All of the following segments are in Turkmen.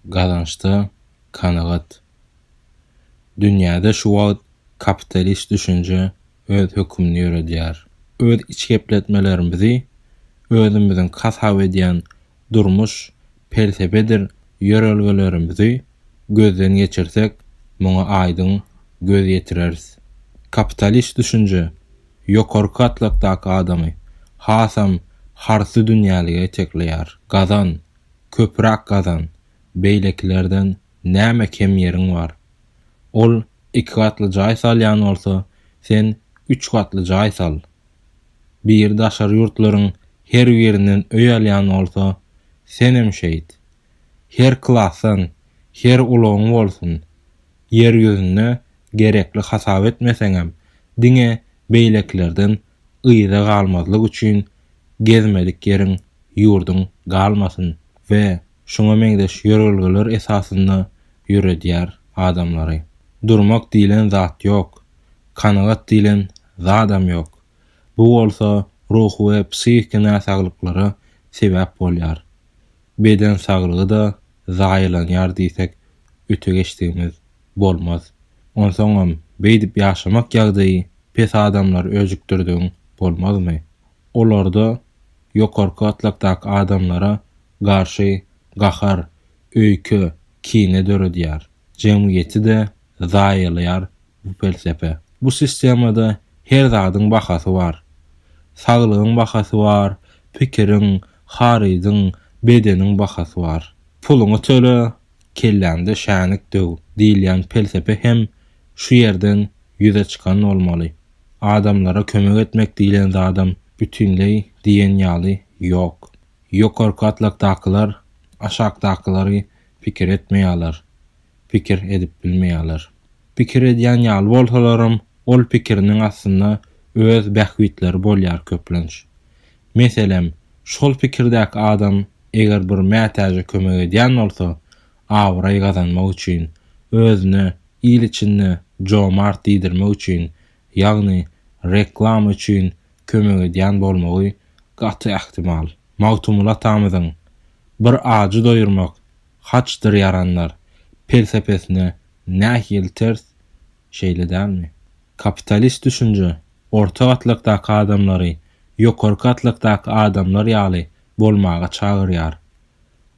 Gazançda kanagat. Dünýäde şu wagt kapitalist düşünje öz hökümini ýöredýär. Öz içgepletmelerimizi özümiziň hasap edýän durmuş, pelsepedir ýörelgelerimizi gözden geçirsek, muňa aýdyň göz ýetireris. Kapitalist düşünje ýokarky gatlakdaky adamy hasam harsydünýälige itekleýär. Gazan, köpürak gazan, beýlekilerden näme kem ýeriň bar? Ol iki gatly jaý salýan bolsa, sen üç gatly jaý sal. Biri daşary ýurtlaryň her birinden öý alýan bolsa, senem şeýt. Her klasdan, her ulagyň bolsun. Ýer ýüzünde gerekli hasap etmeseňem, diňe beýlekilerden yza galmazlyk üçin gezmedik ýeriň, ýurduň galmasyn we şuňa meňzeş ýörelgeler esasynda ýöredýär adamlary. Durmak diýlen zat ýok, kanagat diýlen zadam ýok. Bu bolsa ruhy we psihiki näsaglyklara sebäp bolýar. Beden saglygy-da zaýalanýar diýsek öte geçdigimiz bolmaz. Onsoňam beýdip ýaşamak ýagdaýy pes adamlary öjükdirdigiň bolmazmy? Olarda ýokarky gatlakdaky adamlara garşy gahar, öýke, kine döredýär. Jemgyýeti-de zaýalaýar bu pelsepe. Bu sistemada her zadyň bahasy bar. Saglygyň bahasy bar, pikiriň, harydyň, bedeniň bahasy bar. Puluňy töle, kelläňde şänik döw diýilýän pelsepe hem şu ýerden ýüze çykan bolmaly. Adamlara kömek etmek diýlen zadam bütinleý diýen ýaly ýok. Ýokarky gatlakdakylar aşakdakylary pikir etmeýärler. pikir edip bilmeýärler. Pikir edýän ýaly bolsalaram, ol pikiriniň astynda öz bähbitleri bolýar köplenç. Meselem, şol pikirdäki adam eger bir mätäje kömek edýän bolsa, abraý gazanmak üçin, özüne il içinde jomart diýdirmek üçin, ýagny reklama üçin kömek edýän bolmagy gaty ähtimal. Magtymguly atamyzyň, Bir ajy doýurmak, Haçdyr ýaranlar pelsepesine nähili ters, şeýle dälmi? Kapitalist düşünje orta gatlakdaky adamlary ýokary gatlakdaky adamlar ýaly bolmaga çagyrýar.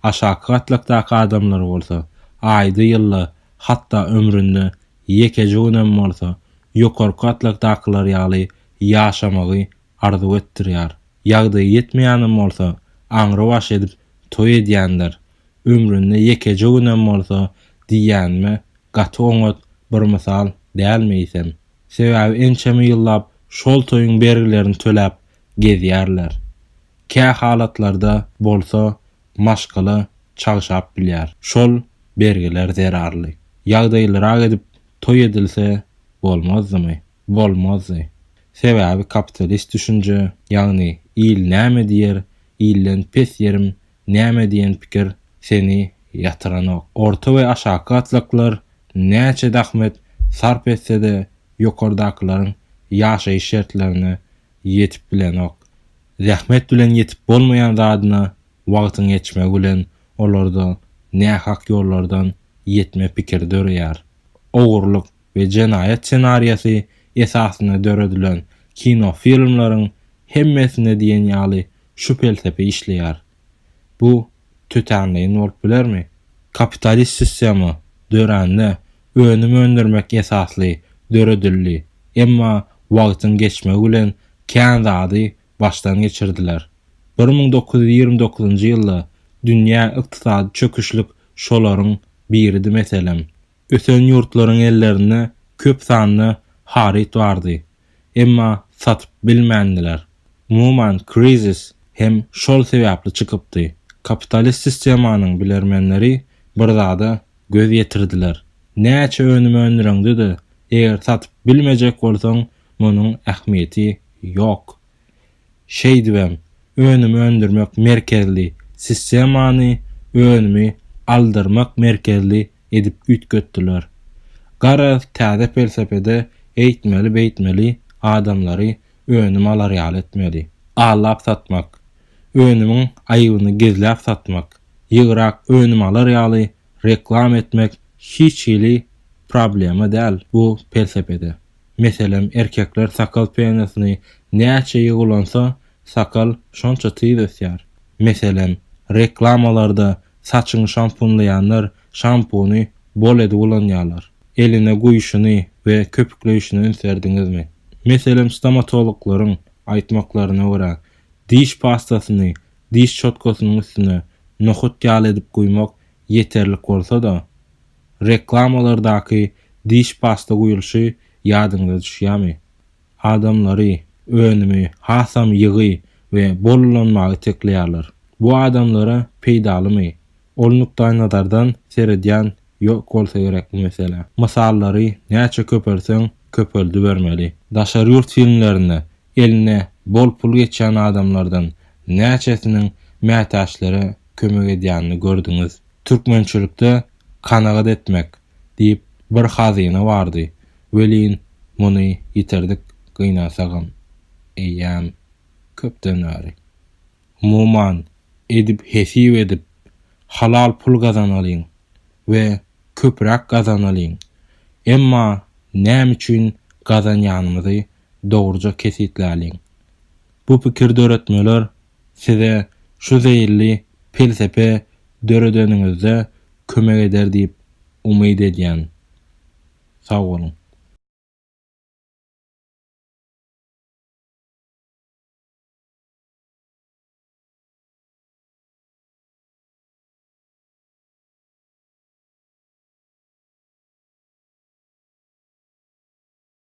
Aşaky gatlakdaky adamlar bolsa aýda ýylda hatda ömründe ýekeje günem bolsa ýokarky gatlakdakylar ýaly ýaşamagy arzuw etdirýär. Ýagdaýy ýetmeýänem bolsa, aňrybaş edip toý edýändir. Ömründe ýekeje günem bolsa diýýänime gaty oňat bir mysal dälmi eýsem? Sebäbi ençeme ýyllap şol toýuň bergilerini töläp gezýärler. Kä halatlarda bolsa maşgala çagşap bilýär. Şol bergiler zerarly. Ýagdaýlyrak edip toý edilse bolmazdymy? Bolmazdy. Sebäbi kapitalist düşünje, ýagny il näme diýer, ilden pes ýerim näme diýen pikir seni ýatyranok. Orta we aşaky gatlaklar näçe zahmet sarp etse-de ýokardakylaryň ýaşaýyş şertlerine ýetip bilenok. Zähmet bilen ýetip bolmaýan zadyna wagtyň ýetişmegi bilen olarda nähak ýollardan ýetme pikiri döreýär. Ogurlyk, we jenaýat ssenariýasy esasynda döredilen kino filmleriň hemmesinde diýen ýaly şu pelsepe işleýär. Bu tötänleýin bolup bilermi? Kapitalist sistema dörände önüm öndürmek esasly döredildi, emma wagtyň geçmegi bilen kän zady başdan geçirdiler. Bir müň dokuz ýüz ýigrimi dokuzynjy ýylda dünýä ykdysady çöküşlik şolaryň biridi meselem. Ösen ýurtlaryň ellerinde köp sanda haryt bardy, emma satyp bilmändiler. Umuman, krizis hem şol sebäpli çykypdy. Kapitalist sistemanyň bilermenleri bir zada göz ýetirdiler, näçe önüm öndüreňde-de, eger satyp bilmejek bolsaň, munuň ähmiýeti ýok. Şeýdibem, önüm öndürmek merkezli sistemany önümi aldyrmak merkezli edip üýtgetdiler. Garaz, täze pelsepede eýtmeli-beýtmeli adamlary önüm alar ýaly etmeli. Allap satmak, önümiň aýybyny gizläp satmak, ýygyrak önüm alar ýaly reklama etmek hiç hili problema däl bu pelsepede. Meselem, erkekler sakal penasyny näçe ýygulansa, sakal şonça tiz ösýär. Meselem, reklamalarda saçyňy şampunlaýanlar şampuny bol edip ulanýarlar. Eline guýuşyny we köpükleýşini üns berdiňizmi? Meselem, stomatologlaryň aýtmaklaryna görä, diş pastasyny diş çotgasynyň üstüne nohut ýaly edip guýmak ýeterlik bolsa-da, Reklamalardaky diş pasta guýulşy ýadyňyza düşýärmi? Adamlary, önümi hasam ýygy we bol ulanmagy itekleýärler. Bu adamlara peýdalymy? Ol nukdaýnazardan seredýän ýok bolsa gerek bu meselä. Mysallary näçe köpeltseň köpeldibermeli. Daşary ýurt filmlerinde eline bol pul geçýän adamlardan näçesiniň mätäçlere kömek edýänini gördüňiz? Türkmençilikde kanagat etmek diýip bir hazyna bardy, welin muny ýitirdik gynansagam eýýäm köpden bäri. Umuman, edip hesip edip, halal pul gazanalyň we köpräk gazanalyň, emma näme üçin gazanýanymyzy dogruja kesgitläliň. Bu pikir döretmeler Size şu zeýilli pelsepe döredeniňizde kömek eder diýip umyt edýän. Sag boluň.